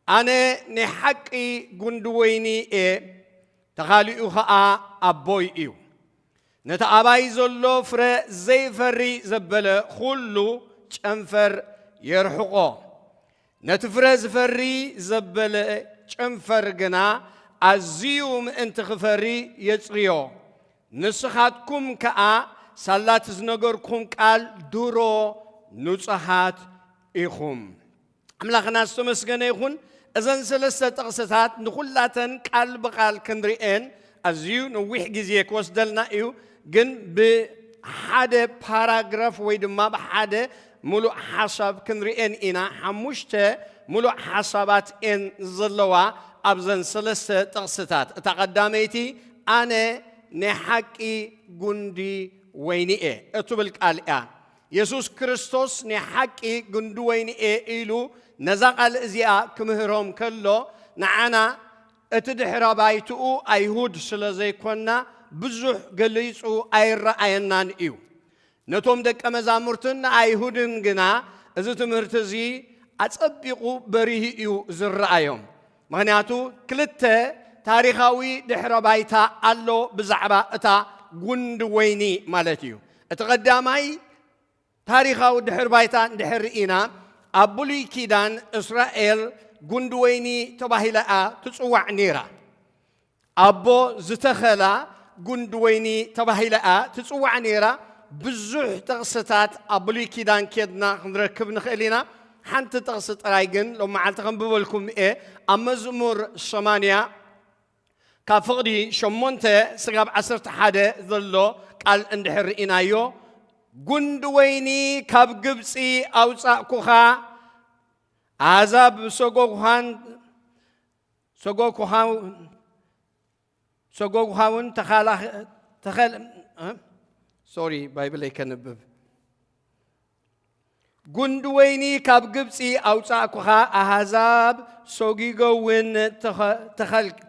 ኣነ ናይ ሓቂ ጉንዲ ወይኒ እየ፣ ተኻሊኡ ኸኣ ኣቦይ እዩ። ነቲ ኣባይ ዘሎ ፍረ ዘይፈሪ ዘበለ ዅሉ ጨንፈር የርሕቖ፣ ነቲ ፍረ ዝፈሪ ዘበለ ጨንፈር ግና ኣዝዩ ምእንቲ ኽፈሪ የጽርዮ። ንስኻትኩም ከኣ ሳላ እቲ ዝነገርኩኹም ቃል ድሮ ንጹሃት ኢኹም። ኣምላኽና ዝተመስገነ ይኹን እዘን ሰለስተ ጥቕስታት ንኹላተን ቃል ብቓል ክንርኤን ኣዝዩ ነዊሕ ግዜ ክወስደልና እዩ ግን ብሓደ ፓራግራፍ ወይ ድማ ብሓደ ሙሉእ ሓሳብ ክንርኤን ኢና ሓሙሽተ ሙሉእ ሓሳባት እየን ዘለዋ ኣብዘን ሰለስተ ጥቕስታት እታ ቀዳመይቲ ኣነ ናይ ሓቂ ጉንዲ ወይኒ እየ እትብል ቃል እያ የሱስ ክርስቶስ ናይ ሓቂ ግንዲ ወይኒ እየ ኢሉ ነዛ ቓል እዚኣ ክምህሮም ከሎ፣ ንዓና እቲ ድሕረ ባይትኡ ኣይሁድ ስለ ዘይኰንና ብዙሕ ገሊጹ ኣይረኣየናን እዩ። ነቶም ደቀ መዛሙርትን ንኣይሁድን ግና እዚ ትምህርቲ እዚ ኣጸቢቑ በሪሁ እዩ ዝረኣዮም። ምክንያቱ ክልተ ታሪኻዊ ድሕረ ባይታ ኣሎ ብዛዕባ እታ ጉንዲ ወይኒ ማለት እዩ። እቲ ቀዳማይ ታሪኻዊ ድሕር ባይታ እንድሕር ርኢና ኣብ ብሉይ ኪዳን እስራኤል ጉንዲ ወይኒ ተባሂላ እያ ትጽዋዕ ነይራ። ኣቦ ዝተኸላ ጉንዲ ወይኒ ተባሂላ እያ ትጽዋዕ ነይራ። ብዙሕ ጥቕስታት ኣብ ብሉይ ኪዳን ኬድና ክንረክብ ንኽእል ኢና። ሓንቲ ጥቕሲ ጥራይ ግን ሎም መዓልቲ ከንብበልኩም እየ። ኣብ መዝሙር ሰማንያ ካብ ፍቕዲ ሸሞንተ ስጋብ ዓሰርተ ሓደ ዘሎ ቃል እንድሕር ርኢናዮ ጉንዲ ወይኒ ካብ ግብጺ ኣውጻእኩኻ ኣሕዛብ ሰጎጉኻን ሰጎጉኻውን ተኸል ሶሪ ባይብለይ ከንብብ ጉንዲ ወይኒ ካብ ግብፂ ኣውፃእኩኻ ኣህዛብ ሰጊጎውን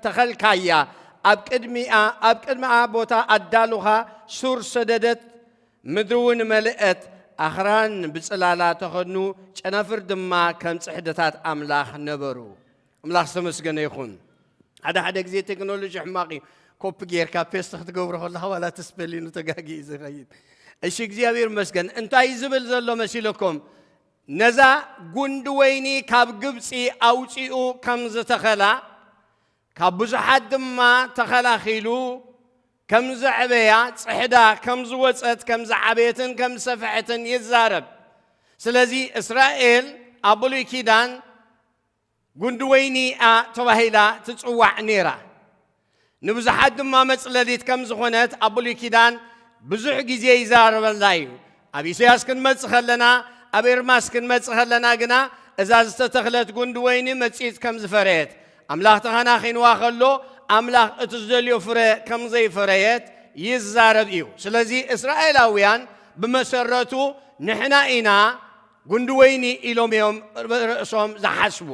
ተኸልካያ ኣብ ቅድሚኣ ኣብ ቅድሚኣ ቦታ ኣዳሉኻ ሱር ሰደደት ምድሪ እውን መልአት ኣኽራን ብፅላላ ተኸኑ ጨናፍር ድማ ከም ፅሕድታት ኣምላኽ ነበሩ ኣምላኽ ዝተመስገነ ይኹን ሓደ ሓደ ግዜ ቴክኖሎጂ ሕማቕ እዩ ኮፒ ጌርካ ፔስት ክትገብሮ ከለካ ዋላ እቲ ስፔሊኑ ተጋጊ እዩ ዝኸይድ እሺ እግዚኣብሔር ይመስገን እንታይ ዝብል ዘሎ መሲለኩም ነዛ ጉንዲ ወይኒ ካብ ግብፂ ኣውፂኡ ከም ዝተኸላ ካብ ብዙሓት ድማ ተኸላኺሉ ከም ዘዕበያ ፅሕዳ ከም ዝወፀት ከም ዝዓበየትን ከም ዝሰፍሐትን ይዛረብ ስለዚ እስራኤል ኣብ ብሉይ ኪዳን ጉንዲ ወይኒ'ያ ተባሂላ ትጽዋዕ ነይራ። ንብዙሓት ድማ መጽለሊት ከም ዝኾነት ኣብ ብሉይ ኪዳን ብዙሕ ግዜ ይዛረበላ እዩ። ኣብ ኢሰያስ ክንመጽእ ከለና ኣብ ኤርማስ ክንመጽእ ከለና ግና እዛ ዝተተኽለት ጉንዲ ወይኒ መጺጽ ከም ዝፈረየት ኣምላኽ ተኸናኺንዋ ከሎ ኣምላኽ እቲ ዝደልዮ ፍረ ከም ዘይፈረየት ይዛረብ እዩ። ስለዚ እስራኤላውያን ብመሰረቱ ንሕና ኢና ጉንዲ ወይኒ ኢሎም እዮም ርእሶም ዝሓስቡ፣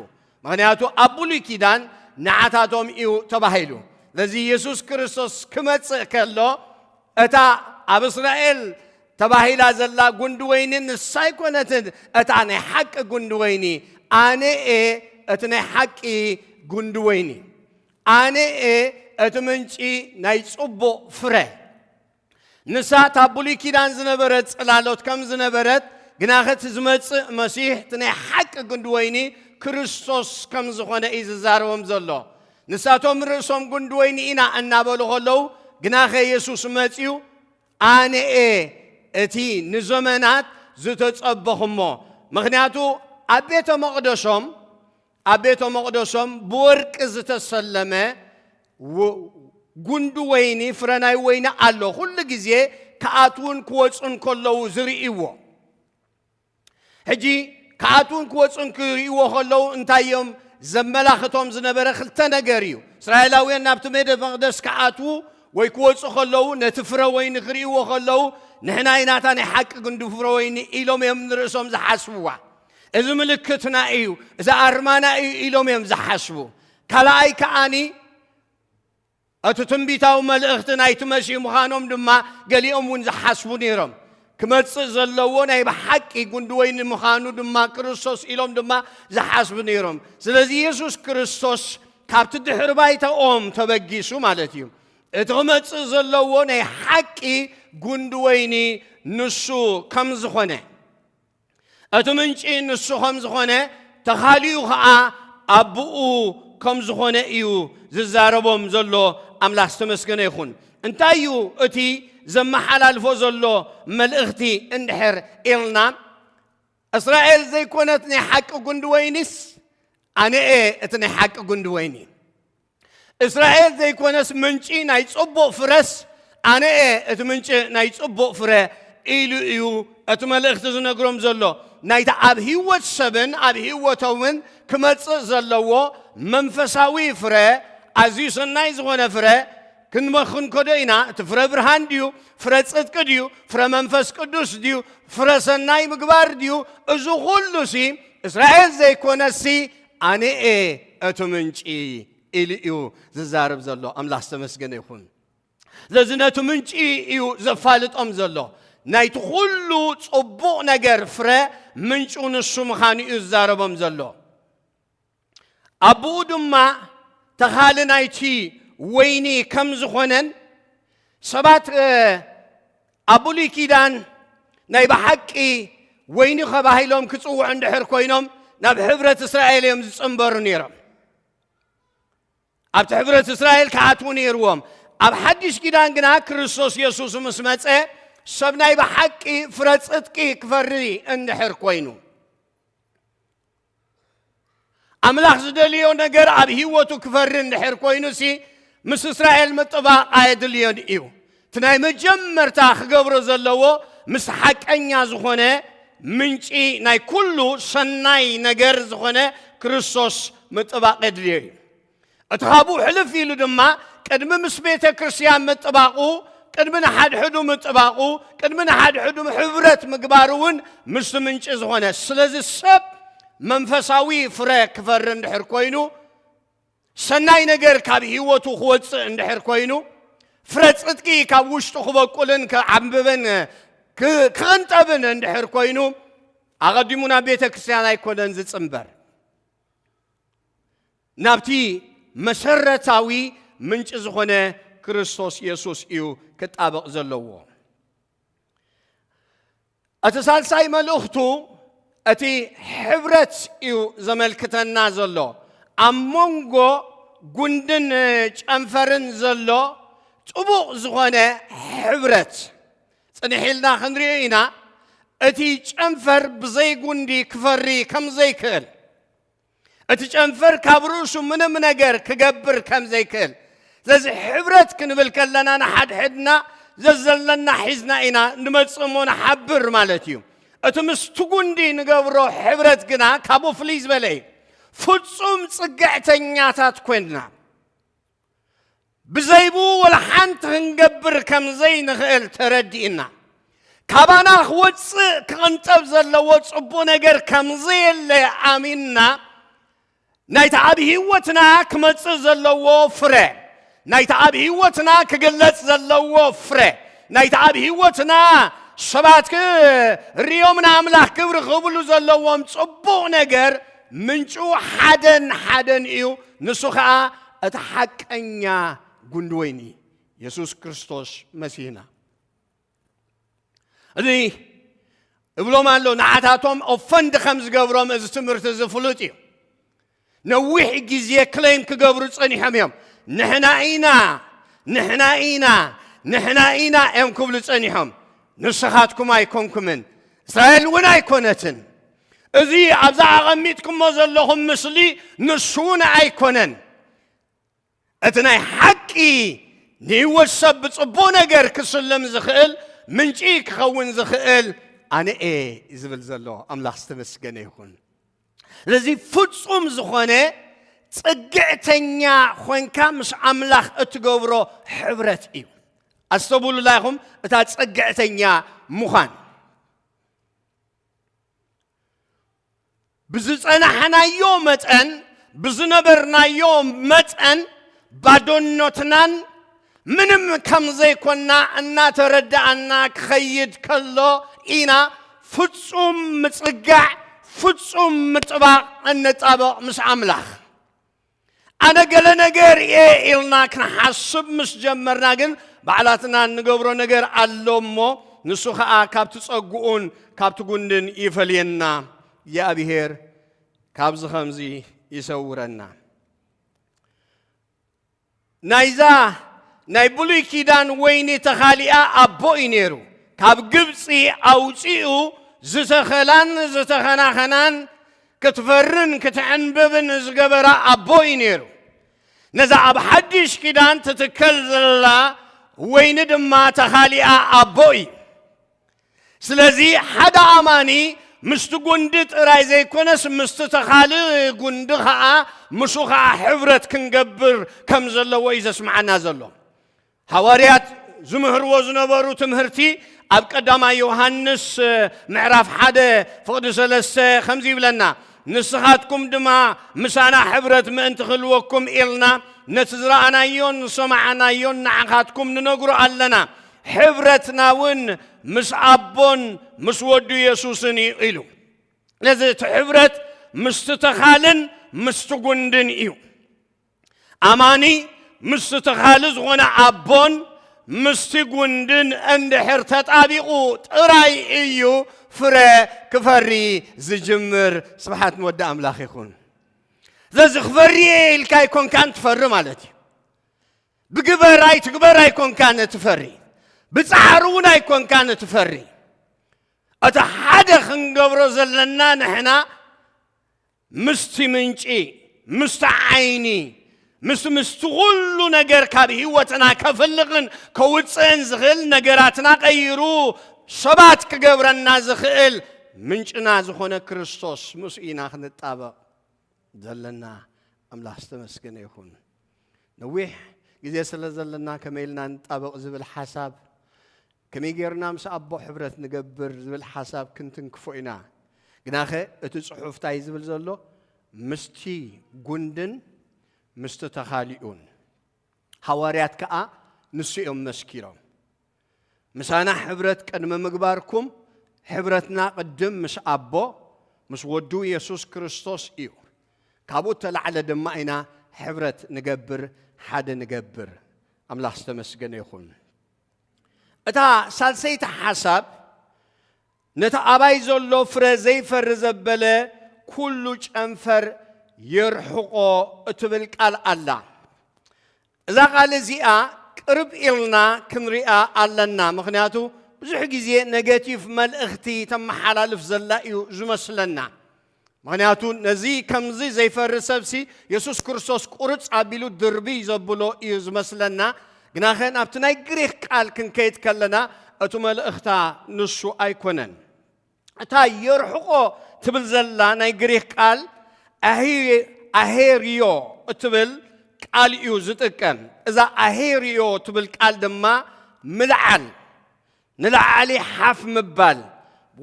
ምኽንያቱ ኣብ ብሉይ ኪዳን ንዓታቶም እዩ ተባሂሉ። ስለዚ የሱስ ክርስቶስ ክመጽእ ከሎ እታ ኣብ እስራኤል ተባሂላ ዘላ ጉንዲ ወይኒ ንሳ ኣይኮነትን እታ ናይ ሓቂ ጉንዲ ወይኒ፣ ኣነ እየ እቲ ናይ ሓቂ ጉንዲ ወይኒ፣ ኣነ እየ እቲ ምንጪ ናይ ጽቡቕ ፍረ። ንሳ እታ ብሉይ ኪዳን ዝነበረት ጽላሎት ከም ዝነበረት፣ ግናኸ እቲ ዝመጽእ መሲሕ እቲ ናይ ሓቂ ግንዲ ወይኒ ክርስቶስ ከም ዝኾነ እዩ ዝዛረቦም ዘሎ። ንሳቶም ርእሶም ግንዲ ወይኒ ኢና እናበሉ ከለዉ፣ ግናኸ የሱስ መጺኡ ኣነ እየ እቲ ንዘመናት ዝተጸበኹሞ ምክንያቱ ኣብ ቤተ መቕደሶም ኣብ ቤተ መቕደሶም ብወርቂ ዝተሰለመ ጉንዲ ወይኒ ፍረ ናይ ወይኒ ኣሎ፣ ኩሉ ግዜ ክኣትዉን ክወፁን ከለዉ ዝርእይዎ። ሕጂ ክኣትዉን ክወፁን ክርእይዎ ከለዉ እንታይ እዮም ዘመላኽቶም ዝነበረ? ክልተ ነገር እዩ። እስራኤላውያን ናብቲ ቤተ መቕደስ ክኣትዉ ወይ ክወፁ ከለዉ ነቲ ፍረ ወይኒ ክርእይዎ ከለዉ ንሕና ኢናታ ናይ ሓቂ ግንዲ ፍረ ወይኒ ኢሎም እዮም ንርእሶም ዝሓስብዋ። እዚ ምልክትና እዩ እዚ ኣርማና እዩ ኢሎም እዮም ዝሓስቡ ካልኣይ ከዓኒ እቲ ትንቢታዊ መልእኽቲ ናይቲ መሲህ ምዃኖም ድማ ገሊኦም እውን ዝሓስቡ ነይሮም ክመፅእ ዘለዎ ናይ ብሓቂ ጉንዲ ወይኒ ምዃኑ ድማ ክርስቶስ ኢሎም ድማ ዝሓስቡ ነይሮም ስለዚ የሱስ ክርስቶስ ካብቲ ድሕሪ ባይታኦም ተበጊሱ ማለት እዩ እቲ ክመፅእ ዘለዎ ናይ ሓቂ ጉንዲ ወይኒ ንሱ ከም ዝኾነ እቲ ምንጪ ንሱ ከም ዝኾነ ተኻሊኡ ኸኣ ኣቡኡ ከም ዝኾነ እዩ ዝዛረቦም ዘሎ ኣምላኽ ዝተመስገነ ይኹን እንታይ እዩ እቲ ዘመሓላልፎ ዘሎ መልእኽቲ እንድሕር ኢልና እስራኤል ዘይኮነት ናይ ሓቂ ጉንዲ ወይኒስ ኣነ እየ እቲ ናይ ሓቂ ጉንዲ ወይኒ እስራኤል ዘይኮነስ ምንጪ ናይ ጽቡቕ ፍረስ ኣነ እየ እቲ ምንጪ ናይ ጽቡቕ ፍረ ኢሉ እዩ እቲ መልእኽቲ ዝነግሮም ዘሎ ናይቲ ኣብ ህይወት ሰብን ኣብ ህይወቶምን ክመጽእ ዘለዎ መንፈሳዊ ፍረ ኣዝዩ ሰናይ ዝኾነ ፍረ ክንመክንከዶ ኢና እቲ ፍረ ብርሃን ድዩ ፍረ ጽድቂ ድዩ ፍረ መንፈስ ቅዱስ ድዩ ፍረ ሰናይ ምግባር ድዩ እዚ ኹሉ ሲ እስራኤል ዘይኮነሲ ኣነ'የ እቲ ምንጪ ኢሉ እዩ ዝዛረብ ዘሎ። ኣምላኽ ዝተመስገነ ይኹን። ስለዚ ነቲ ምንጪ እዩ ዘፋልጦም ዘሎ። ናይቲ ኩሉ ጽቡቕ ነገር ፍረ ምንጩ ንሱ ምዃኑ እዩ ዝዛረቦም ዘሎ። ኣቦኡ ድማ ተኻሊ ናይቲ ወይኒ ከም ዝኾነን ሰባት ኣብ ብሉይ ኪዳን ናይ ብሓቂ ወይኒ ከባሂሎም ክጽውዑ እንድሕር ኮይኖም ናብ ሕብረት እስራኤል እዮም ዝጽንበሩ ነይሮም ኣብቲ ሕብረት እስራኤል ክኣትዉ ነይርዎም ኣብ ሓድሽ ኪዳን ግና ክርስቶስ የሱስ ምስ መፀ ሰብ ናይ ብሓቂ ፍረ ፅጥቂ ክፈሪ እንድሕር ኮይኑ ኣምላኽ ዝደልዮ ነገር ኣብ ህይወቱ ክፈሪ እንድሕር ኮይኑሲ ምስ እስራኤል ምጥባቕ ኣየድልዮን እዩ እቲ ናይ መጀመርታ ክገብሮ ዘለዎ ምስ ሓቀኛ ዝኾነ ምንጪ ናይ ኩሉ ሰናይ ነገር ዝኾነ ክርስቶስ ምጥባቕ የድልዮ እዩ እቲ ካብኡ ሕልፍ ኢሉ ድማ ቅድሚ ምስ ቤተ ክርስቲያን ምጥባቑ ቅድሚ ንሓድሕዱ ምጥባቑ ቅድሚ ንሓድሕዱ ሕብረት ምግባሩ እውን ምስቲ ምንጪ ዝኾነ ስለዚ ሰብ መንፈሳዊ ፍረ ክፈሪ እንድሕር ኮይኑ ሰናይ ነገር ካብ ህይወቱ ክወፅእ እንድሕር ኮይኑ ፍረ ፅድቂ ካብ ውሽጡ ክበቁልን ክዓምብብን ክቕንጠብን እንድሕር ኮይኑ ኣቐዲሙ ናብ ቤተ ክርስቲያን ኣይኮነን ዝፅምበር ናብቲ መሰረታዊ ምንጪ ዝኾነ ክርስቶስ የሱስ እዩ ክጣበቕ ዘለዎ። እቲ ሳልሳይ መልእኽቱ እቲ ሕብረት እዩ ዘመልክተና ዘሎ ኣብ መንጎ ጉንድን ጨንፈርን ዘሎ ጥቡቕ ዝኾነ ሕብረት ጽንሕ ኢልና ክንሪኦ ኢና እቲ ጨንፈር ብዘይ ጉንዲ ክፈሪ ከም ዘይክእል እቲ ጨንፈር ካብ ርእሱ ምንም ነገር ክገብር ከም ዘይክእል ስለዚ ሕብረት ክንብል ከለና ንሓድሕድና ዘዘለና ሒዝና ኢና ንመጽእ እሞ ንሓብር ማለት እዩ እቲ ምስቲ ጉንዲ ንገብሮ ሕብረት ግና ካብኡ ፍልይ ዝበለ እዩ ፍጹም ጽግዕተኛታት ኮይንና ብዘይብኡ ወላ ሓንቲ ክንገብር ከም ዘይንኽእል ተረዲእና ካባና ክወፅእ ክቕንጠብ ዘለዎ ፅቡቕ ነገር ከም ዘየለ ኣሚንና ናይቲ ኣብ ህይወትና ክመጽእ ዘለዎ ፍረ ናይቲ ኣብ ህይወትና ክግለጽ ዘለዎ ፍረ ናይቲ ኣብ ህይወትና ሰባት ክርእዮም ንኣምላኽ ክብሪ ክብሉ ዘለዎም ጽቡቕ ነገር ምንጩ ሓደን ሓደን እዩ፣ ንሱ ኸኣ እቲ ሓቀኛ ጉንዲ ወይኒ የሱስ ክርስቶስ መሲህና። እዚ እብሎም ኣሎ ንዓታቶም ኦፈንድ ከም ዝገብሮም እዚ ትምህርቲ እዚ ፍሉጥ እዩ ነዊሕ ግዜ ክለይም ክገብሩ ጸኒሖም እዮም ንሕና ኢና ንሕና ኢና ንሕና ኢና እዮም ክብሉ ጸኒሖም ንስኻትኩም ኣይኮንኩምን እስራኤል እውን ኣይኮነትን እዚ ኣብዛ ኣቐሚጥኩሞ ዘለኹም ምስሊ ንሱ እውን ኣይኮነን። እቲ ናይ ሓቂ ንህይወት ሰብ ብጽቡቕ ነገር ክስልም ዝኽእል ምንጪ ክኸውን ዝኽእል ኣነ እየ ዝብል ዘሎ ኣምላኽ ዝተመስገነ ይኹን። ስለዚ ፍጹም ዝኾነ ጽግዕተኛ ኾንካ ምስ ኣምላኽ እትገብሮ ሕብረት እዩ። ኣስተብሉላ ኢኹም እታ ጽግዕተኛ ምዃን ብዝጸናሕናዮ መጠን ብዝነበርናዮ መጠን ባዶነትናን ምንም ከም ዘይኮና እናተረዳእና ክኸይድ ከሎ ኢና ፍጹም ምጽጋዕ ፍጹም ምጥባቕ እንጣበቕ ምስ ኣምላኽ ኣነ ገለ ነገር እየ ኢልና ክንሓስብ ምስ ጀመርና ግን ባዕላትና እንገብሮ ነገር ኣሎ እሞ ንሱ ኸዓ ካብቲ ጸጉኡን ካብቲ ጉንድን ይፈልየና እግዚኣብሔር ካብዚ ከምዚ ይሰውረና ናይዛ ናይ ብሉይ ኪዳን ወይኒ ተኻሊኣ ኣቦ እዩ ነይሩ። ካብ ግብፂ ኣውፂኡ ዝተኸላን ዝተኸናኸናን ክትፈርን ክትዕንብብን ዝገበራ ኣቦ እዩ ነይሩ። ነዛ ኣብ ሓድሽ ኪዳን ትትከል ዘላ ወይኒ ድማ ተኻሊኣ ኣቦ እዩ። ስለዚ ሓደ ኣማኒ ምስቲ ጉንዲ ጥራይ ዘይኮነስ ምስቲ ተኻልእ ጉንዲ ኸኣ ምስኡ ኸኣ ሕብረት ክንገብር ከም ዘለዎ እዩ ዘስምዓና ዘሎ ሃዋርያት ዝምህርዎ ዝነበሩ ትምህርቲ ኣብ ቀዳማይ ዮሃንስ ምዕራፍ ሓደ ፍቕዲ ሰለስተ ከምዚ ይብለና ንስኻትኩም ድማ ምሳና ሕብረት ምእንቲ ክህልወኩም ኢልና ነቲ ዝረኣናዮን ዝሰማዕናዮን ንዓኻትኩም ንነግሮ ኣለና ሕብረትና እውን ምስ ኣቦን ምስ ወዱ የሱስን እዩ ኢሉ ነዚ እቲ ሕብረት ምስቲ ተኻልን ምስቲ ጉንድን እዩ ኣማኒ ምስቲ ተኻሊ ዝኾነ ኣቦን ምስቲ ጉንድን እንድሕር ተጣቢቑ ጥራይ እዩ ፍረ ክፈሪ ዝጅምር ስብሓት ንወዲ ኣምላኽ ይኹን ስለዚ ክፈሪ እየ ኢልካ ይኮንካን ትፈሪ ማለት እዩ ብግበር ኣይትግበር ኣይኮንካን እትፈሪ ብጻዕሪ እውን ኣይኮንካን እትፈሪ እቲ ሓደ ክንገብሮ ዘለና ንሕና ምስቲ ምንጪ ምስቲ ዓይኒ ምስ ምስቲ ኩሉ ነገር ካብ ህይወትና ከፍልቕን ከውፅእን ዝኽእል ነገራትና ቀይሩ ሰባት ክገብረና ዝኽእል ምንጭና ዝኾነ ክርስቶስ ምስ ኢና ክንጣበቕ ዘለና ኣምላኽ ዝተመስገነ ይኹን ነዊሕ ግዜ ስለ ዘለና ከመይ ኢልና ንጣበቕ ዝብል ሓሳብ ከመይ ጌርና ምስ ኣቦ ሕብረት ንገብር ዝብል ሓሳብ ክንትንክፎ ኢና ግናኸ እቲ ጽሑፍ እንታይ ዝብል ዘሎ ምስቲ ጉንድን ምስቲ ተኻሊኡን ሃዋርያት ከዓ ንሱ እዮም መስኪሮም ምሳና ሕብረት ቅድሚ ምግባርኩም ሕብረትና ቅድም ምስ ኣቦ ምስ ወዱ የሱስ ክርስቶስ እዩ። ካብኡ እተላዕለ ድማ ኢና ሕብረት ንገብር ሓደ ንገብር። ኣምላኽ ዝተመስገነ ይኹን። እታ ሳልሰይቲ ሓሳብ ነቲ ኣባይ ዘሎ ፍረ ዘይፈሪ ዘበለ ኩሉ ጨንፈር የርሕቆ እትብል ቃል ኣላ። እዛ ቃል እዚኣ ቅርብ ኢልና ክንሪኣ ኣለና ምኽንያቱ ብዙሕ ግዜ ነገቲቭ መልእኽቲ ተመሓላልፍ ዘላ እዩ ዝመስለና ምኽንያቱ ነዚ ከምዚ ዘይፈሪ ሰብሲ የሱስ ክርስቶስ ቁርፅ ኣቢሉ ድርብይ ዘብሎ እዩ ዝመስለና ግናኸ ናብቲ ናይ ግሪክ ቃል ክንከይድ ከለና እቲ መልእኽታ ንሱ ኣይኮነን እታ የርሕቆ ትብል ዘላ ናይ ግሪኽ ቃል ኣሄርዮ እትብል ቃል እዩ ዝጥቀም። እዛ ኣሄርዮ ትብል ቃል ድማ ምልዓል፣ ንላዕሊ ሓፍ ምባል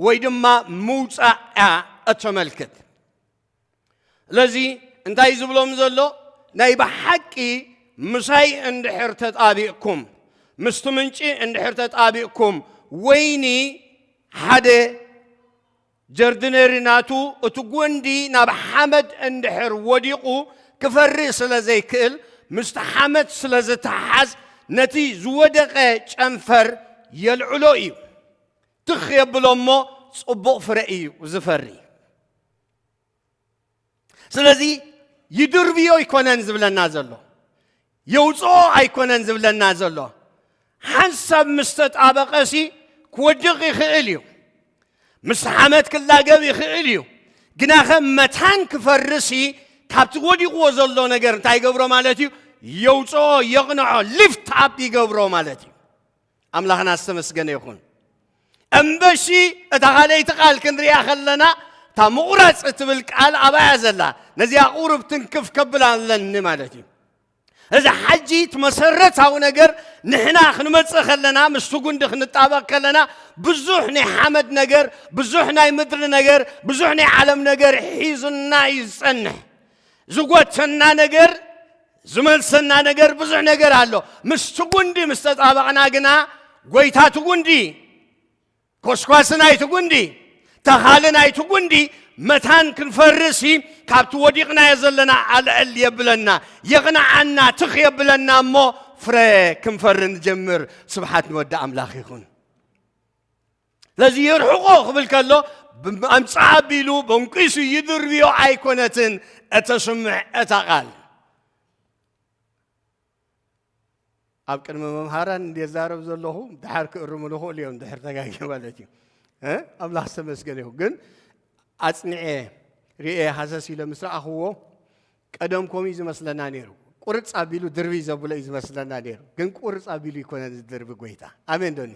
ወይ ድማ ምውፃእ እያ እተመልክት። ስለዚ እንታይ ዝብሎም ዘሎ ናይ ብሓቂ ምሳይ እንድሕር ተጣቢቕኩም ምስቲ ምንጪ እንድሕር ተጣቢቕኩም ወይኒ ሓደ ጀርድነሪ ናቱ እቲ ጎንዲ ናብ ሓመድ እንድሕር ወዲቑ ክፈሪ ስለ ዘይክእል ምስቲ ሓመድ ስለ ዝተሓዝ ነቲ ዝወደቐ ጨንፈር የልዕሎ እዩ ትኽ የብሎ እሞ ጽቡቕ ፍረ እዩ ዝፈሪ ስለዚ ይድርብዮ ኣይኮነን ዝብለና ዘሎ የውፅኦ ኣይኮነን ዝብለና ዘሎ ሓንሳብ ምስ ተጣበቐሲ ክወድቕ ይኽእል እዩ ምስ ሓመት ክላገብ ይኽእል እዩ ግና ከም መታን ክፈርሲ ካብቲ ወዲቕዎ ዘሎ ነገር እንታይ ይገብሮ ማለት እዩ የውፅኦ የቕንዖ ሊፍት ኣፕ ይገብሮ ማለት እዩ ኣምላኽና ዝተመስገነ ይኹን እምበሺ እታ ካልኣይቲ ቃል ክንሪኣ ከለና እታ ምቑራፅ እትብል ቃል ኣባያ ዘላ ነዚኣ ቁርብ ትንክፍ ከብል ኣለኒ ማለት እዩ እዚ ሓጂ እቲ መሰረታዊ ነገር ንሕና ክንመፅእ ከለና ምስቲ ጉንዲ ክንጣበቕ ከለና ብዙሕ ናይ ሓመድ ነገር ብዙሕ ናይ ምድሪ ነገር ብዙሕ ናይ ዓለም ነገር ሒዙና እዩ ዝፀንሕ ዝጎተና ነገር ዝመልሰና ነገር ብዙሕ ነገር ኣሎ። ምስቲ ጉንዲ ምስ ተጣበቕና ግና ጎይታ እቲ ጉንዲ፣ ኮስኳሲ ናይቲ ጉንዲ፣ ተኻሊ ናይቲ ጉንዲ መታን ክንፈርሲ ካብቲ ወዲቕናዮ ዘለና ኣልዕል የብለና፣ የቕንዓና፣ ትኽ የብለና እሞ ፍረ ክንፈሪ ንጀምር። ስብሓት ንወዲ ኣምላኽ ይኹን። ስለዚ የርሕቆ ክብል ከሎ ኣምፅኣ ኣቢሉ በንቂሱ ይድርብዮ ኣይኮነትን እተስምዕ እታ ቃል ኣብ ቅድሚ መምሃራን እንዴት ዛረብ ዘለኹ ድሓር ክእርሙ ንኽእሉ እዮም ድሕር ተጋጊ ማለት እዩ ኣምላኽ ዝተመስገነ ይኹ ግን ኣፅኒዐ ርኤ ሃሰስ ኢለ ምስ ረኣኽዎ ቀደም ከምኡ እዩ ዝመስለና ነይሩ። ቁርፅ ኣቢሉ ድርብይ ዘብሎ እዩ ዝመስለና ነይሩ። ግን ቁርፅ ኣቢሉ ይኮነን ዝድርቢ ጎይታ። ኣሜን ዶኒ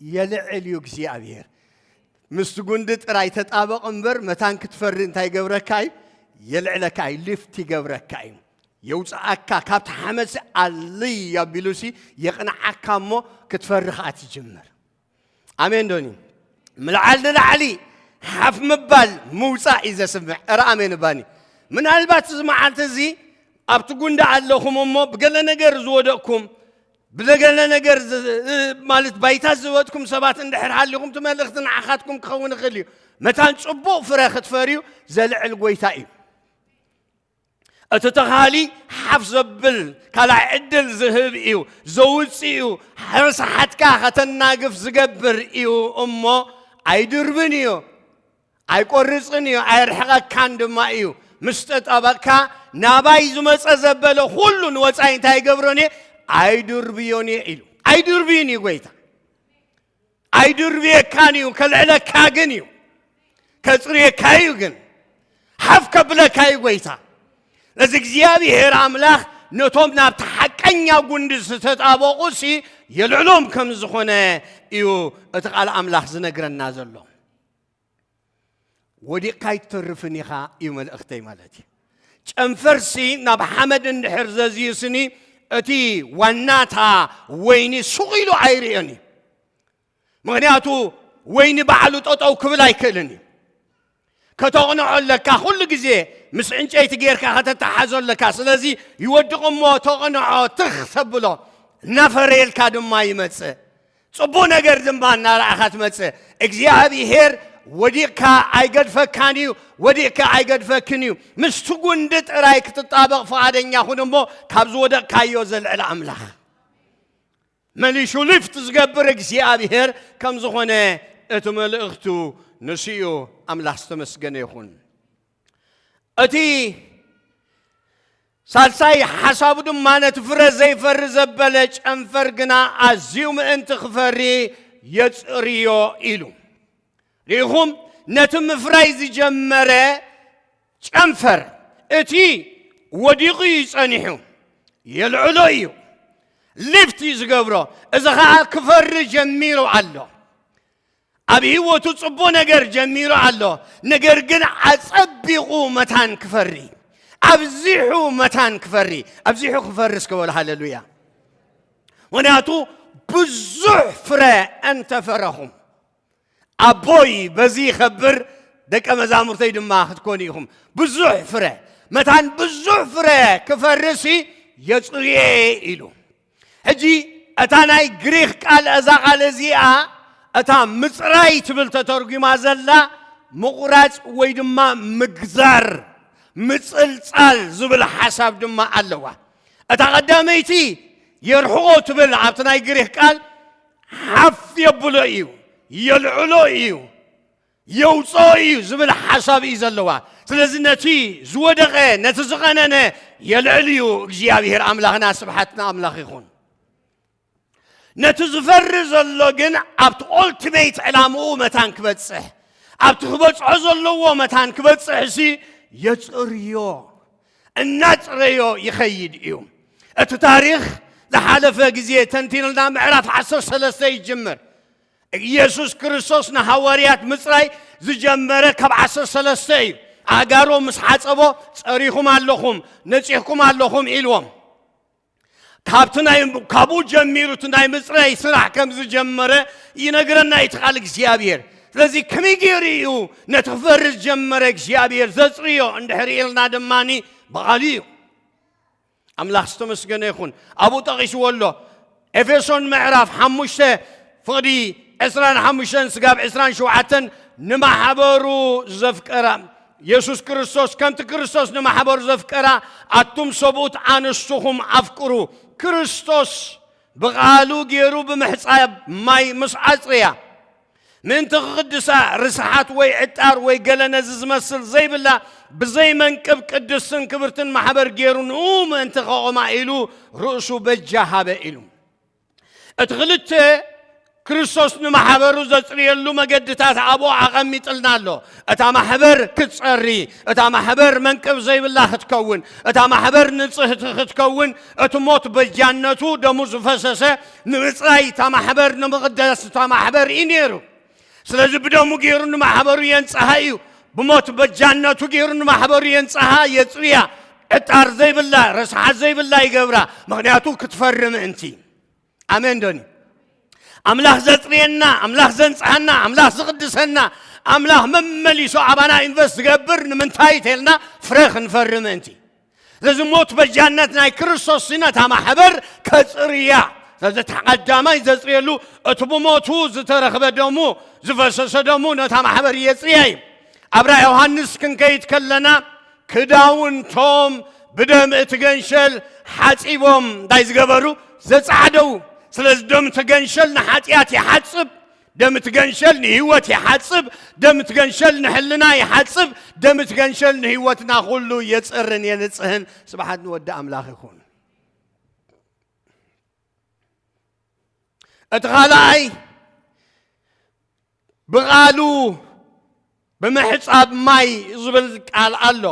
የልዕል እዩ እግዚኣብሔር። ምስቲ ጉንዲ ጥራይ ተጣበቕ እምበር መታን ክትፈሪ እንታይ ይገብረካ እዩ የልዕለካ እዩ ሊፍት ይገብረካ እዩ የውፅኣካ ካብቲ ሓመፅ ኣልይ ኣቢሉሲ የቕንዓካ እሞ ክትፈሪ ከዓ ትጅምር ኣሜን ዶኒ ምልዓል ንላዕሊ ሓፍ ምባል ምውፃእ እዩ ዘስምዕ እረ ኣሜን ባኒ ምናልባት እዚ መዓልቲ እዚ ኣብቲ ጉንዳ ኣለኹም እሞ ብገለ ነገር ዝወደቕኩም ብዘገለ ነገር ማለት ባይታ ዝበትኩም ሰባት እንድሕር ሃሊኹም እቲ መልእኽቲ ንዓኻትኩም ክኸውን ይኽእል እዩ መታን ፅቡቕ ፍረ ክትፈርዩ ዘልዕል ጎይታ እዩ እቲ ተኻሊ ሓፍ ዘብል ካልኣይ ዕድል ዝህብ እዩ ዘውፅእ እዩ ሕርስሓትካ ከተናግፍ ዝገብር እዩ እሞ ኣይድርብን እዩ ኣይቆርፅን እዩ ኣይርሕቐካን ድማ እዩ ምስ ጠጠበቕካ ናባይ ዝመፀ ዘበለ ኩሉ ንወፃኢ እንታይ ይገብሮን እየ ኣይድርብዮን እየ ኢሉ ኣይድርብዩን እዩ ጎይታ ኣይድርብየካን እዩ ከልዕለካ ግን እዩ ከጽርየካ እዩ ግን ሓፍ ከብለካ እዩ ጎይታ እዚ እግዚኣብሔር ኣምላኽ ነቶም ናብቲ ሓቀኛ ጉንዲ ዝተጣበቑ ሲ የልዕሎም ከም ዝኾነ እዩ እቲ ቃል ኣምላኽ ዝነግረና ዘሎ ወዲቕካ ኣይትተርፍን ኢኻ እዩ መልእኽተይ ማለት እዩ ጨንፈርሲ ናብ ሓመድ እንድሕር ዘዝዩስኒ እቲ ዋናታ ወይኒ ሱቕ ኢሉ ኣይርእዮን እዩ ምክንያቱ ወይኒ ባዕሉ ጠጠው ክብል ኣይክእልን እዩ ከተቕንዖ ኣለካ ኩሉ ግዜ ምስ ዕንጨይቲ ጌርካ ከተተሓዞ ኣለካ ስለዚ ይወድቕ እሞ ተቕንዖ ትኽ ተብሎ እናፈረየልካ ድማ ይመፅእ ጽቡቕ ነገር ድማ እናረኣኻ ትመጽእ። እግዚኣብሄር ወዲቕካ ኣይገድፈካን እዩ፣ ወዲቕካ ኣይገድፈክን እዩ። ምስቲ ጉንዲ ጥራይ ክትጣበቕ ፍቓደኛ ኹን እሞ ካብ ዝወደቕካዮ ዘልዕል ኣምላኽ መሊሹ ሊፍት ዝገብር እግዚኣብሄር ከም ዝኾነ እቲ መልእኽቱ ንሱ እዩ። ኣምላኽ ዝተመስገነ ይኹን። እቲ ሳልሳይ ሓሳቡ ድማ ነቲ ፍረ ዘይፈሪ ዘበለ ጨንፈር ግና ኣዝዩ ምእንቲ ክፈሪ የጽርዮ ኢሉ ርኢኹም ነቲ ምፍራይ ዝጀመረ ጨንፈር እቲ ወዲቑ እዩ ጸኒሑ የልዕሎ እዩ ሊፍት እዩ ዝገብሮ እዚ ከዓ ክፈሪ ጀሚሩ ኣሎ ኣብ ህይወቱ ጽቡቕ ነገር ጀሚሩ ኣሎ፣ ነገር ግን ኣጸቢቑ መታን ክፈሪ ኣብዚሑ መታን ክፈሪ ኣብዚሑ ክፈሪ እስከ በሉ ሃለሉያ። ምክንያቱ ብዙሕ ፍረ እንተፈረኹም ኣቦይ በዚ ይኸብር ደቀ መዛሙርተይ ድማ ክትኮኑ ኢኹም። ብዙሕ ፍረ መታን ብዙሕ ፍረ ክፈርሲ የጽርየ ኢሉ ሕጂ እታ ናይ ግሪኽ ቃል እዛ ቃል እዚኣ እታ ምጽራይ ትብል ተተርጒማ ዘላ ምቑራጽ ወይ ድማ ምግዛር ምጽልጻል ዝብል ሓሳብ ድማ ኣለዋ እታ ቀዳመይቲ የርሕቆ ትብል ኣብቲ ናይ ግሪኽ ቃል ሓፍ የብሎ እዩ የልዕሎ እዩ የውጽኦ እዩ ዝብል ሓሳብ እዩ ዘለዋ ስለዚ ነቲ ዝወደቐ ነቲ ዝቐነነ የልዕል እዩ እግዚኣብሔር ኣምላኽና ስብሓት ንኣምላኽ ይኹን ነቲ ዝፈሪ ዘሎ ግን ኣብቲ ኦልቲሜት ዕላምኡ መታን ክበጽሕ ኣብቲ ክበጽሖ ዘለዎ መታን ክበጽሕ እሲ የጽርዮ እናጽረዮ ይኸይድ እዩ እቲ ታሪኽ ዝሓለፈ ግዜ ተንቲንልና ምዕራፍ 13 ይጅምር ኢየሱስ ክርስቶስ ንሃዋርያት ምጽራይ ዝጀመረ ካብ ዓሰርተ ሰለስተ እዩ። ኣእጋሮ ምስ ሓጸቦ ጸሪኹም ኣለኹም ነጺሕኩም ኣለኹም ኢልዎም። ካብቲ ናይ ካብኡ ጀሚሩ እቲ ናይ ምጽራይ ስራሕ ከም ዝጀመረ ይነግረና እዩ ቃል እግዚኣብሔር። ስለዚ ከመይ ገይሩ እዩ ነቲ ክፈሪ ዝጀመረ እግዚኣብሔር ዘጽርዮ እንድሕር ኢልና ድማኒ ብቓሉ እዩ። ኣምላኽ ዝተመስገነ ይኹን ኣብኡ ጠቒስዎ ኣሎ ኤፌሶን ምዕራፍ ሓሙሽተ ፍቕዲ ዕስራን ሓሙሽተን ስጋብ ዕስራን ሸውዓተን ንማሕበሩ ዘፍቀራ የሱስ ክርስቶስ ከምቲ ክርስቶስ ንማሕበሩ ዘፍቀራ ኣቱም ሰብኡት ኣንስትኹም ኣፍቅሩ ክርስቶስ ብቓሉ ገይሩ ብምሕፃብ ማይ ምስ ኣፅርያ ምእንቲ ክቕድሳ ርስሓት ወይ ዕጣር ወይ ገለ ነዚ ዝመስል ዘይብላ ብዘይ መንቅብ ቅድስትን ክብርትን ማሕበር ገይሩ ንኡ ምእንቲ ከቖማ ኢሉ ርእሱ በጃ ሃበ ኢሉ እቲ ክልተ ክርስቶስ ንማሕበሩ ዘጽርየሉ መገድታት ኣብኡ ኣቐሚጥልና ኣሎ እታ ማሕበር ክትጸሪ እታ ማሕበር መንቅብ ዘይብላ ክትከውን እታ ማሕበር ንጽህቲ ክትከውን እቲ ሞት በጃነቱ ደሙ ዝፈሰሰ ንምፅራይ እታ ማሕበር ንምቕዳስ እታ ማሕበር እዩ ነይሩ ስለዚ ብደሙ ገይሩ ንማሕበሩ የንፅሃ እዩ ብሞት በጃነቱ ገይሩ ንማሕበሩ የንፅሃ የፅርያ ዕጣር ዘይብላ ረስሓት ዘይብላ ይገብራ ምክንያቱ ክትፈሪ ምእንቲ ኣሜን ዶኒ ኣምላኽ ዘፅርየና ኣምላኽ ዘንፅሃና ኣምላኽ ዝቕድሰና ኣምላኽ መመሊሱ ኣባና ኢንቨስት ዝገብር ንምንታይ ተልና ፍረ ክንፈሪ ምእንቲ ስለዚ ሞት በጃነት ናይ ክርስቶስ ነታ ማሕበር ከጽርያ ስለዚ እቲ ቀዳማይ ዘጽርየሉ እቲ ብሞቱ ዝተረኽበ ደሙ ዝፈሰሰ ደሙ ነታ ማሕበር የጽርያ እዩ ኣብ ራእ ዮሃንስ ክንከይድ ከለና ክዳውንቶም ብደም እቲ ገንሸል ሓጺቦም እንታይ ዝገበሩ ዘጻዕደው ስለዚ ደም እቲ ገንሸል ንሓጢኣት ይሓጽብ ደም እቲ ገንሸል ንህይወት ይሓጽብ፣ ደም እቲ ገንሸል ንሕልና ይሓጽብ፣ ደም እቲ ገንሸል ንህይወትና ኩሉ የጽርን የንጽህን። ስብሓት ንወዲ ኣምላኽ ይኹን። እቲ ካልኣይ ብቓሉ ብምሕፃብ ማይ ዝብል ቃል ኣሎ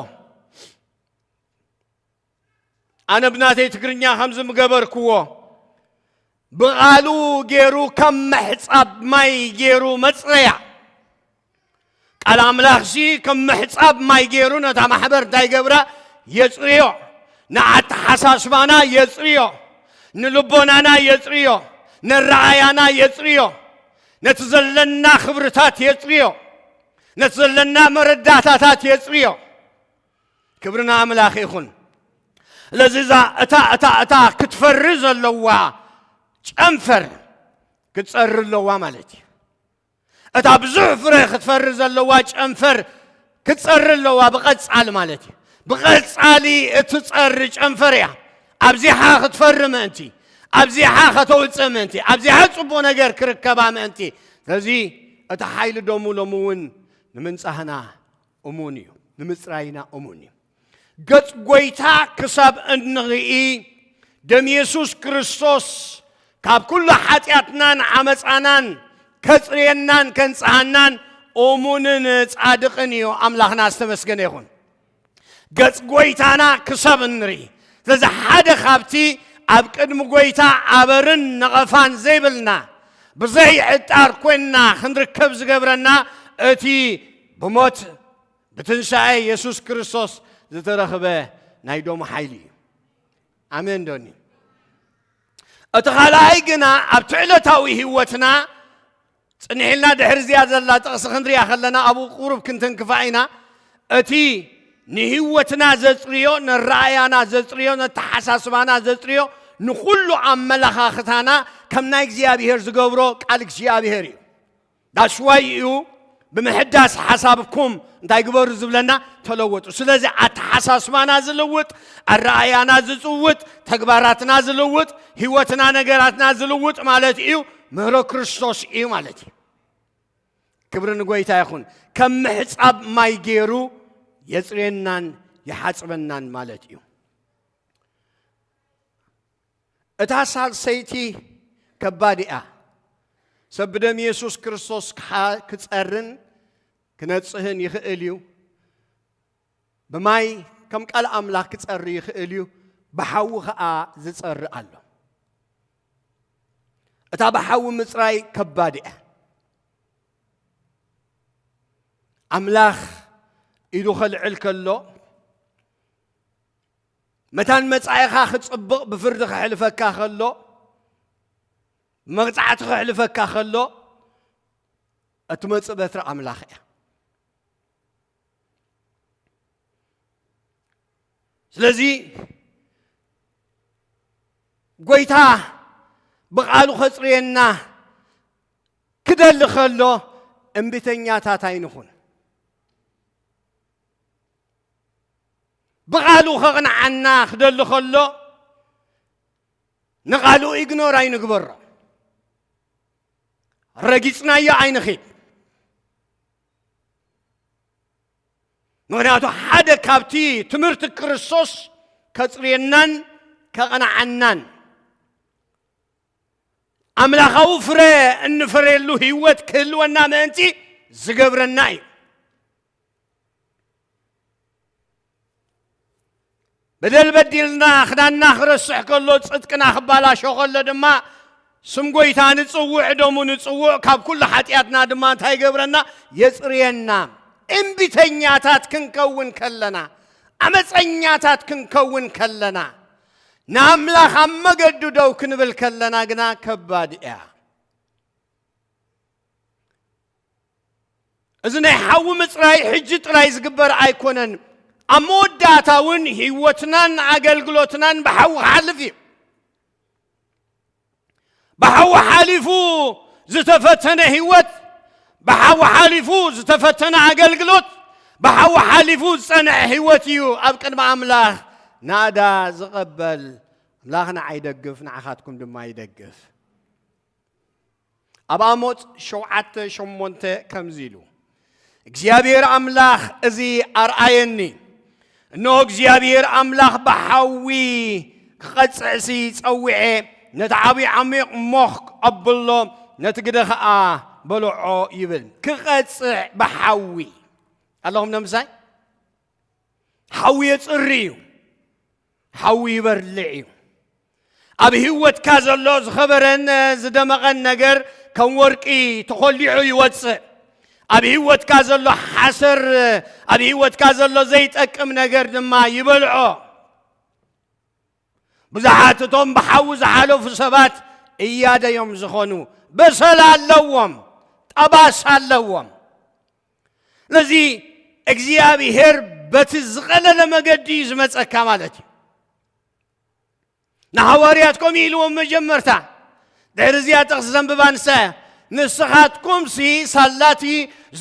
ኣነ ብናተይ ትግርኛ ከምዚ ምገበርክዎ ብቓሉ ገይሩ ከም ምሕፃብ ማይ ገይሩ መፅረያ ቃል ኣምላኽሲ ከም ምሕፃብ ማይ ገይሩ ነታ ማሕበር እንታይ ገብራ የፅርዮ ንኣተሓሳስባና የፅርዮ ንልቦናና የፅርዮ ነረኣያና የፅርዮ ነቲ ዘለና ክብርታት የፅርዮ ነቲ ዘለና መረዳእታታት የፅርዮ ክብሪ ንኣምላኽ ይኹን። ስለዚ እዛ እታ እታ እታ ክትፈሪ ዘለዋ ጨንፈር ክትጸሪ ኣለዋ ማለት እዩ። እታ ብዙሕ ፍረ ክትፈሪ ዘለዋ ጨንፈር ክትጸሪ ኣለዋ ብቐጻሊ ማለት እዩ። ብቐጻሊ እትጸሪ ጨንፈር እያ። ኣብዚሓ ክትፈሪ ምእንቲ ኣብዚሓ ከተውፅእ ምእንቲ ኣብዚሓ ጽቡቕ ነገር ክርከባ ምእንቲ ስለዚ እቲ ሓይሊ ደሙ ሎሚ እውን ንምንጻህና እሙን እዩ ንምጽራይና እሙን እዩ ገጽ ጎይታ ክሳብ እንርኢ ደም የሱስ ክርስቶስ ካብ ኩሉ ሓጢኣትናን ዓመፃናን ከፅርየናን ከንፅሃናን እሙንን ጻድቕን እዩ ኣምላኽና ዝተመስገነ ይኹን ገጽ ጎይታና ክሳብ እንርኢ ስለዚ ሓደ ካብቲ ኣብ ቅድሚ ጎይታ ኣበርን ነቐፋን ዘይብልና ብዘይዕጣር ኮይንና ክንርከብ ዝገብረና እቲ ብሞት ብትንሳኤ የሱስ ክርስቶስ ዝተረኽበ ናይ ዶሙ ሓይሊ እዩ ኣሜን ዶኒ እቲ ካልኣይ ግና ኣብቲ ዕለታዊ ህይወትና ፅኒሒልና ድሕሪ እዚኣ ዘላ ጥቕሲ ክንሪኣ ከለና ኣብኡ ቁሩብ ክንተንክፋ ኢና እቲ ንህይወትና ዘፅርዮ ንረኣያና ዘፅርዮ ነተሓሳስባና ዘፅርዮ ንኩሉ ኣመላኻኽታና ከም ናይ እግዚኣብሄር ዝገብሮ ቃል እግዚኣብሄር እዩ ዳስዋይ እዩ ብምሕዳስ ሓሳብኩም እንታይ ግበሩ ዝብለና ተለወጡ። ስለዚ ኣተሓሳስባና ዝልውጥ፣ ኣረኣእያና ዝፅውጥ፣ ተግባራትና ዝልውጥ፣ ህይወትና ነገራትና ዝልውጥ ማለት እዩ ምህሮ ክርስቶስ እዩ ማለት እዩ። ክብሪ ንጎይታ ይኹን። ከም ምሕፃብ ማይ ገይሩ የፅሬናን ይሓፅበናን ማለት እዩ። እታ ሳልሰይቲ ከባድ እያ። ሰብ ብደም የሱስ ክርስቶስ ክጸርን ክነጽህን ይኽእል እዩ። ብማይ ከም ቃል ኣምላኽ ክጸሪ ይኽእል እዩ። ብሓዊ ኸኣ ዝጸሪ ኣሎ። እታ ብሓዊ ምጽራይ ከባድ እያ። ኣምላኽ ኢዱ ኸልዕል ከሎ መታን መጻኢኻ ክጽብቕ ብፍርዲ ክሕልፈካ ከሎ መቕጻዕቲ ክሕልፈካ ከሎ እትመጽእ በትሪ ኣምላኽ እያ ስለዚ ጎይታ ብቓሉ ከጽርየና ክደሊ ከሎ እምቢተኛታት ኣይንኹን ብቓሉ ከቕንዓና ክደሊ ከሎ ንቓሉ ኢግኖር ኣይንግበሮ፣ ረጊጽናዮ ኣይንኺድ። ምክንያቱ ሓደ ካብቲ ትምህርቲ ክርስቶስ ከጽርየናን ከቕንዓናን ኣምላኻዊ ፍረ እንፈርየሉ ህይወት ክህልወና ምእንቲ ዝገብረና እዩ። በደል በዲልና ክዳንና ክረስሕ ከሎ ጽድቅና ክባላሾ ከሎ ድማ ስም ጎይታ ንጽውዕ ደሙ ንጽውዕ ካብ ኩሉ ሓጢኣትና ድማ እንታይ ይገብረና የጽርየና እምቢተኛታት ክንከውን ከለና ዓመፀኛታት ክንከውን ከለና ንኣምላኽ ኣብ መገዱ ደው ክንብል ከለና ግና ከባድ እያ እዚ ናይ ሓዊ ምፅራይ ሕጂ ጥራይ ዝግበር ኣይኮነን ኣብ መወዳእታ እውን ህይወትናን ኣገልግሎትናን ብሓዊ ክሓልፍ እዩ ብሓዊ ሓሊፉ ዝተፈተነ ህይወት ብሓዊ ሓሊፉ ዝተፈተነ ኣገልግሎት ብሓዊ ሓሊፉ ዝፀንዐ ህይወት እዩ ኣብ ቅድሚ ኣምላኽ ናዳ ዝቐበል ኣምላኽ ንዓይ ደግፍ ንዓኻትኩም ድማ ይደግፍ ኣብ ኣሞጽ ሸውዓተ ሸሞንተ ከምዚ ኢሉ እግዚኣብሔር ኣምላኽ እዚ ኣርኣየኒ እነሆ እግዚኣብሔር ኣምላኽ ብሓዊ ክቐጽዕሲ ጸዊዐ ነቲ ዓብዪ ዓሚቕ ሞኽ ኣብሎ ነቲ ግደ ኸዓ በልዖ ይብል ክቐጽዕ ብሓዊ ኣለኹም ነምሳይ ሓዊ የጽሪ እዩ ሓዊ ይበርልዕ እዩ። ኣብ ህይወትካ ዘሎ ዝኸበረን ዝደመቐን ነገር ከም ወርቂ ተኾሊዑ ይወፅእ። ኣብ ህይወትካ ዘሎ ሓሰር፣ ኣብ ህይወትካ ዘሎ ዘይጠቅም ነገር ድማ ይበልዖ። ብዙሓት እቶም ብሓዊ ዝሓለፉ ሰባት እያደዮም ዝኾኑ በሰላ ኣለዎም፣ ጠባሳ ኣለዎም። ነዚ እግዚኣብሄር በቲ ዝቐለለ መገዲ እዩ ዝመፀካ ማለት እዩ ንሃዋርያት ከምኡ ኢልዎም መጀመርታ ድሕሪ እዚኣ ጥቕሲ ዘንብባ ንሳ እያ ንስኻትኩምሲ ሳላቲ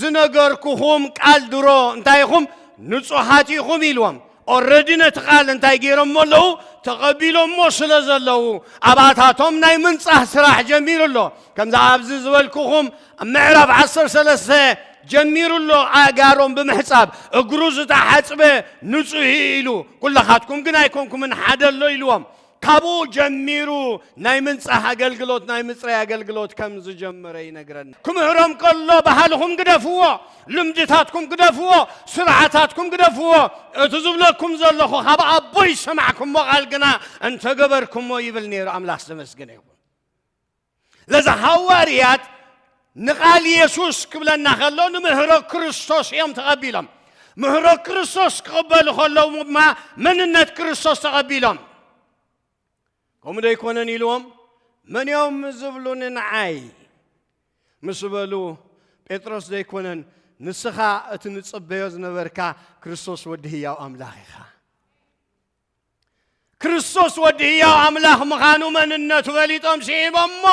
ዝነገርኩኹም ቃል ድሮ እንታይ ኢኹም ንጹሓት ኢኹም ኢልዎም ኦረዲ ነቲ ቃል እንታይ ገይሮሞ ኣለዉ ተቐቢሎሞ ስለ ዘለዉ ኣብኣታቶም ናይ ምንጻህ ስራሕ ጀሚሩ ኣሎ ከምዚ ኣብዚ ዝበልኩኹም ኣብ ምዕራፍ 13 ጀሚሩ ኣሎ ኣእጋሮም ብምሕጻብ እግሩ ዝተሓጽበ ንጹህ ኢሉ ኩላኻትኩም ግን ኣይኮንኩምን ሓደ ኣሎ ኢልዎም ካብኡ ጀሚሩ ናይ ምንጻህ ኣገልግሎት ናይ ምጽራይ ኣገልግሎት ከም ዝጀመረ ይነግረና። ክምህሮም ከሎ ባህልኹም ግደፍዎ፣ ልምድታትኩም ግደፍዎ፣ ስርዓታትኩም ግደፍዎ፣ እቲ ዝብለኩም ዘለኹ ካብ ኣቦይ ዝሰማዕኩሞ ቃል ግና እንተገበርኩሞ ይብል ነይሩ። ኣምላኽ ዝተመስገነ ይኹን። ለዚ ሃዋርያት ንቓል የሱስ ክብለና ከሎ ንምህሮ ክርስቶስ እዮም ተቐቢሎም ምህሮ ክርስቶስ ክቕበሉ ከለዉ ድማ መንነት ክርስቶስ ተቐቢሎም ከምኡ ዶ ኣይኮነን ኢልዎም መን እዮም ዝብሉኒ ንዓይ ምስ በሉ ጴጥሮስ ዶ ኣይኮነን ንስኻ እቲ ንጽበዮ ዝነበርካ ክርስቶስ ወዲ ህያው ኣምላኽ ኢኻ ክርስቶስ ወዲ ህያው ኣምላኽ ምዃኑ መንነቱ ፈሊጦም ስዒቦሞ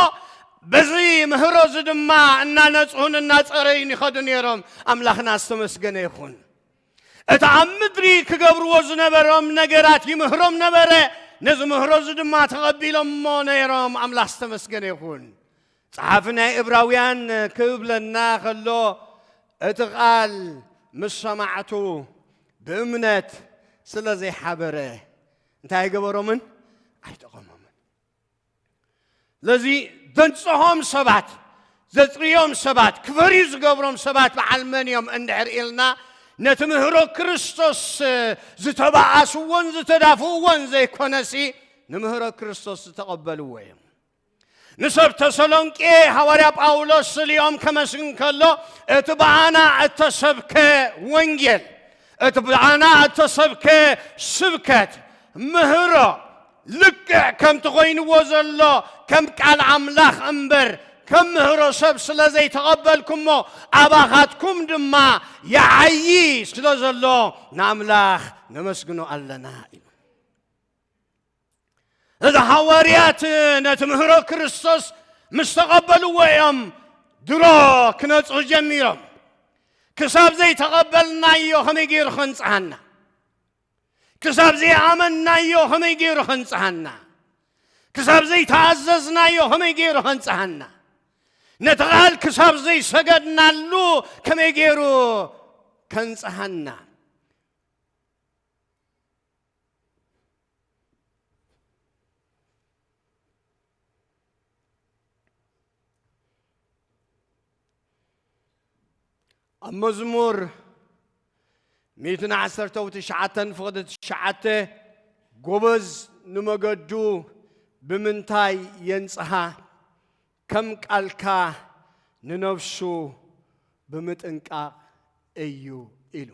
በዚ ምህሮ እዚ ድማ እናነጽሁን እናጸረዩን ይኸዱ ነይሮም ኣምላኽና ዝተመስገነ ይኹን እቲ ኣብ ምድሪ ክገብርዎ ዝነበሮም ነገራት ይምህሮም ነበረ ነዚ ምህሮ እዚ ድማ ተቐቢሎሞ ነይሮም ኣምላኽ ዝተመስገነ ይኹን ጸሓፊ ናይ እብራውያን ክብለና ከሎ እቲ ቓል ምስ ሰማዕቱ ብእምነት ስለ ዘይሓበረ እንታይ ኣይገበሮምን ኣይጠቐሞምን ስለዚ ዘንጽሆም ሰባት ዘጽርዮም ሰባት ክፈርዩ ዝገብሮም ሰባት በዓል መን እዮም እንድሕር ኢልና ነቲ ምህሮ ክርስቶስ ዝተባኣስዎን ዝተዳፍእዎን ዘይኮነሲ ንምህሮ ክርስቶስ ዝተቐበልዎ እዮም ንሰብ ተሰሎንቄ ሃዋርያ ጳውሎስ ስሊኦም ከመስግን ከሎ እቲ ብኣና እተሰብከ ወንጌል እቲ ብኣና እተሰብከ ስብከት ምህሮ ልክዕ ከምቲ ኮይንዎ ዘሎ ከም ቃል ኣምላኽ እምበር ከም ምህሮ ሰብ ስለ ዘይተቐበልኩሞ ኣባኻትኩም ድማ ይዓዪ ስለ ዘሎ ንኣምላኽ ነመስግኖ ኣለና ኢሉ እዚ ሃዋርያት ነቲ ምህሮ ክርስቶስ ምስ ተቐበልዎ እዮም ድሮ ክነጽሁ ጀሚሮም ክሳብ ዘይተቐበልናዮ ከመይ ገይሩ ከንጽሃና ክሳብ ዘይኣመንናዮ ከመይ ገይሩ ከንጽሃና ክሳብ ዘይተኣዘዝናዮ ከመይ ገይሩ ከንጽሃና ነቲ ቓል ክሳብ ዘይሰገድናሉ ከመይ ገይሩ ከንጽሃና ኣብ መዝሙር ሚእትን ዓሰርተ ትሽዓተን ፍቕዲ ትሽዓተ ጎበዝ ንመገዱ ብምንታይ የንጽሃ ከም ቃልካ ንነፍሱ ብምጥንቃቕ እዩ ኢሉ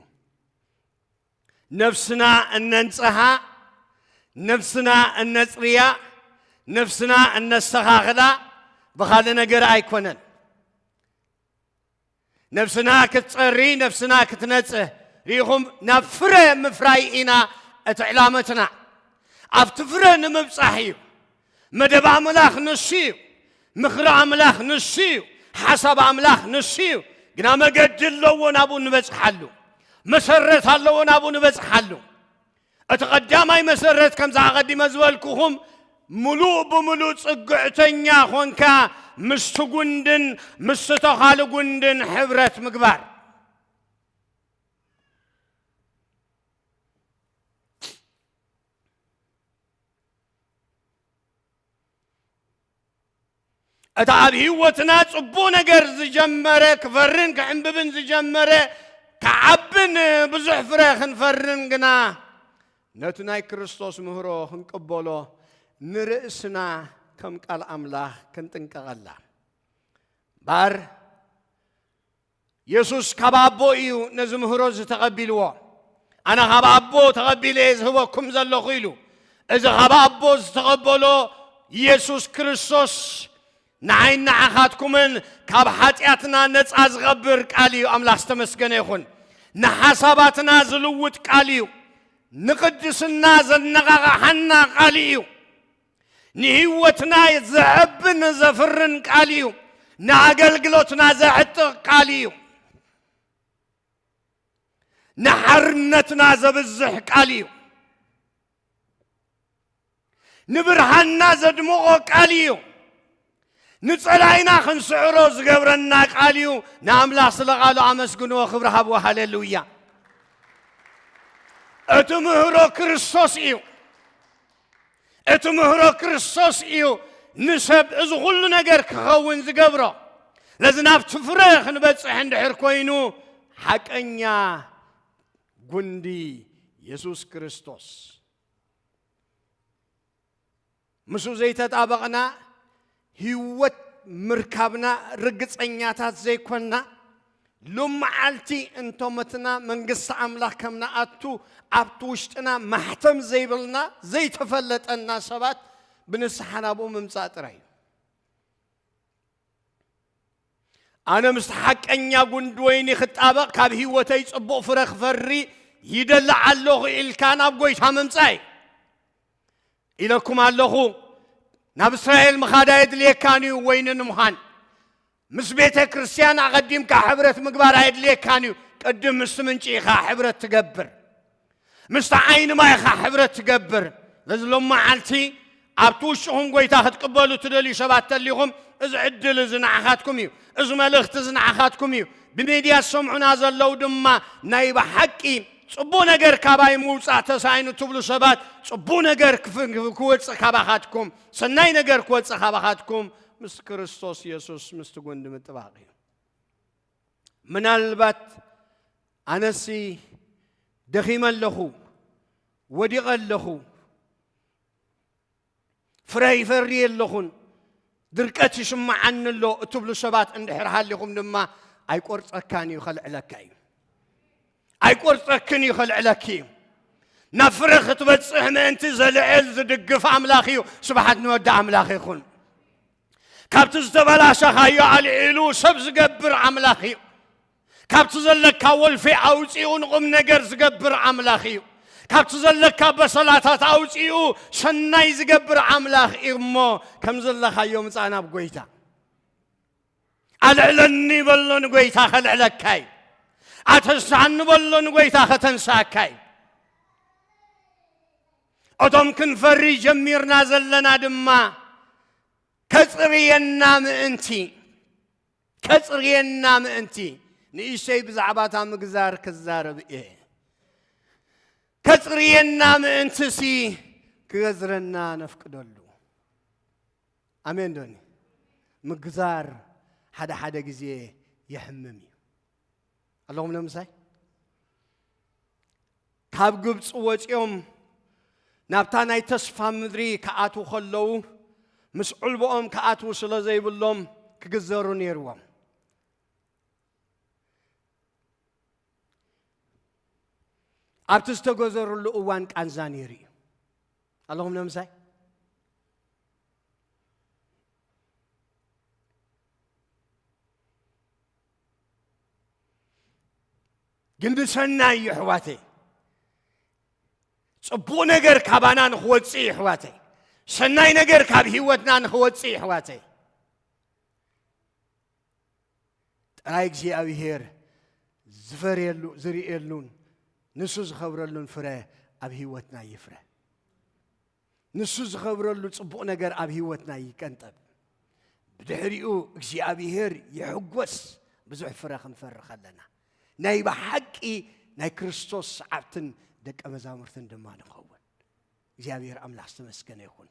ነፍስና እነንጽሃ፣ ነፍስና እነጽርያ፣ ነፍስና እነስተኻኽላ ብኻልእ ነገር ኣይኮነን። ነፍስና ክትጸሪ፣ ነፍስና ክትነጽህ ርኢኹም፣ ናብ ፍረ ምፍራይ ኢና እቲ ዕላመትና ኣብቲ ፍረ ንምብጻሕ እዩ። መደብ ኣምላኽ ንሱ እዩ። ምኽሪ ኣምላኽ ንሱ እዩ። ሓሳብ ኣምላኽ ንሱ እዩ። ግና መገዲ ኣለዎ ናብኡ ንበጽሓሉ። መሰረት ኣለዎ ናብኡ ንበጽሓሉ። እቲ ቀዳማይ መሰረት ከምዚ ኣቐዲመ ዝበልኩኹም ምሉእ ብምሉእ ጽግዕተኛ ኾንካ ምስቲ ጉንድን ምስቲ ተኻሊ ጉንድን ሕብረት ምግባር እታ ኣብ ህይወትና ጽቡቕ ነገር ዝጀመረ ክፈርን ክዕንብብን ዝጀመረ ክዓብን ብዙሕ ፍረ ክንፈርን ግና ነቲ ናይ ክርስቶስ ምህሮ ክንቅበሎ ንርእስና ከም ቃል ኣምላኽ ክንጥንቀቐላ ባር የሱስ ካብ ኣቦ እዩ ነዚ ምህሮ እዚ ተቐቢልዎ። ኣነ ካብ ኣቦ ተቐቢለ እየ ዝህበኩም ዘለኹ ኢሉ። እዚ ካብ ኣቦ ዝተቐበሎ የሱስ ክርስቶስ ንዓይን ንዓኻትኩምን ካብ ሓጢኣትና ነፃ ዝቐብር ቃል እዩ። ኣምላኽ ዝተመስገነ ይኹን። ንሓሳባትና ዝልውጥ ቃል እዩ። ንቕድስና ዘነቓቓሓና ቃል እዩ። ንህይወትና ዘዕብን ዘፍርን ቃል እዩ። ንኣገልግሎትና ዘዕጥቕ ቃል እዩ። ንሓርነትና ዘብዝሕ ቃል እዩ። ንብርሃንና ዘድምቖ ቃል እዩ። ንጸላኢና ክንስዕሮ ዝገብረና ቃል እዩ ንኣምላኽ ስለ ቓሉ ኣመስግንዎ ክብሪ ሃብዎ ሃሌሉያ እቲ ምህሮ ክርስቶስ እዩ እቲ ምህሮ ክርስቶስ እዩ ንሰብ እዚ ኩሉ ነገር ክኸውን ዝገብሮ ነዚ ናብቲ ፍረ ክንበፅሕ እንድሕር ኮይኑ ሓቀኛ ጉንዲ የሱስ ክርስቶስ ምስኡ ዘይተጣበቕና ህይወት ምርካብና ርግጸኛታት ዘይኮንና ሎመዓልቲ እንቶ መትና መንግስቲ ኣምላኽ ከም ንኣቱ ኣብቲ ውሽጥና ማሕተም ዘይብልና ዘይተፈለጠና ሰባት ብንስሓ ናብኡ ምምጻእ ጥራይ እዩ ኣነ ምስ ሓቀኛ ጉንዲ ወይኒ ክጣበቕ ካብ ህይወተይ ጽቡቕ ፍረ ክፈሪ ይደሊ ኣለኹ ኢልካ ናብ ጎይታ ምምጻእ እዩ ኢለኩም ኣለኹ። ናብ እስራኤል ምኻድ ኣየድልየካን እዩ ወይኒ ንምዃን ምስ ቤተ ክርስቲያን ኣቐዲምካ ሕብረት ምግባር ኣየድልየካን እዩ። ቅድም ምስቲ ምንጪ ኢኻ ሕብረት ትገብር፣ ምስቲ ዓይኒ ማይ ኢኻ ሕብረት ትገብር። ነዚ ሎም መዓልቲ ኣብቲ ውሽኹም ጎይታ ክትቅበሉ ትደልዩ ሰባት ተሊኹም እዚ ዕድል እዚ ንዓኻትኩም እዩ። እዚ መልእኽቲ እዚ ንዓኻትኩም እዩ። ብሚድያ ዝሰምዑና ዘለው ድማ ናይ ብሓቂ ጽቡቅ ነገር ካባይ ምውጻእ ተሳኢኑ ትብሉ ሰባት ጽቡቅ ነገር ክወጽእ ካባኻትኩም ሰናይ ነገር ክወጽእ ካባኻትኩም ምስ ክርስቶስ የሱስ ምስቲ ጉንዲ ምጥባቕ እዩ ምናልባት ኣነሲ ደኺመ ኣለኹ ወዲቐ ኣለኹ ፍረ ይፈሪ ኣለኹን ድርቀት ይስምዓኒ ኣሎ እትብሉ ሰባት እንድሕር ሃሊኹም ድማ ኣይቆርፀካን እዩ ከልዕለካ እዩ ኣይቆርፀክን እዩ ከልዕለኪ እዩ ናብ ፍረ ክትበፅሕ ምእንቲ ዘልዕል ዝድግፍ ኣምላኽ እዩ ስብሓት ንወዲ ኣምላኽ ይኹን ካብቲ ዝተበላሸኻዮ ኣልዒሉ ሰብ ዝገብር ኣምላኽ እዩ ካብቲ ዘለካ ወልፌ ኣውጺኡ ንቑምነገር ዝገብር ኣምላኽ እዩ። ካብቲ ዘለካ በሰላታት ኣውጺኡ ሰናይ ዝገብር ኣምላኽ እዩ እሞ ከም ዘለኻዮ ምጻእ ናብ ጐይታ ኣልዕለኒ በሎ ንጐይታ ከልዕለካ እዩ። ኣተንስሓኒ በሎ ንጐይታ ከተንስኣካ እዩ። እቶም ክንፈሪ ጀሚርና ዘለና ድማ ከጽርየና ምእንቲ ከጽርየና ምእንቲ ንእሽተይ ብዛዕባ እታ ምግዛር ክዛረብ እየ። ከጽርየና ምእንትሲ ክገዝረና ነፍቅደሉ። ኣሜን ዶኒ ምግዛር ሓደ ሓደ ግዜ የሕምም እዩ። ኣለኹም ንምሳይ ካብ ግብፂ ወፂኦም ናብታ ናይ ተስፋ ምድሪ ክኣትዉ ከለዉ ምስ ዕልቦኦም ክኣትዉ ስለ ዘይብሎም ክግዘሩ ነይርዎም ኣብቲ ዝተገዘሩሉ እዋን ቃንዛ ነይሩ እዩ ኣለኹም ንምሳይ ግን ብሰናይ እዩ ኣሕዋተይ ፅቡቕ ነገር ካባና ንክወፅእ እዩ ኣሕዋተይ ሰናይ ነገር ካብ ህይወትና ንክወፅእ እዩ ኣሕዋተይ ጥራይ እግዚኣብሄር ዝፈርየሉ ዝርእየሉን ንሱ ዝኸብረሉን ፍረ ኣብ ህይወትና ይፍረ ንሱ ዝኸብረሉ ጽቡቕ ነገር ኣብ ህይወትና ይቀንጠብ። ብድሕሪኡ እግዚኣብሄር ይሕጐስ ብዙሕ ፍረ ክንፈሪ ከለና። ናይ ብሓቂ ናይ ክርስቶስ ሰዓብትን ደቀ መዛሙርትን ድማ ንኸውን። እግዚኣብሄር ኣምላኽ ዝተመስገነ ይኹን።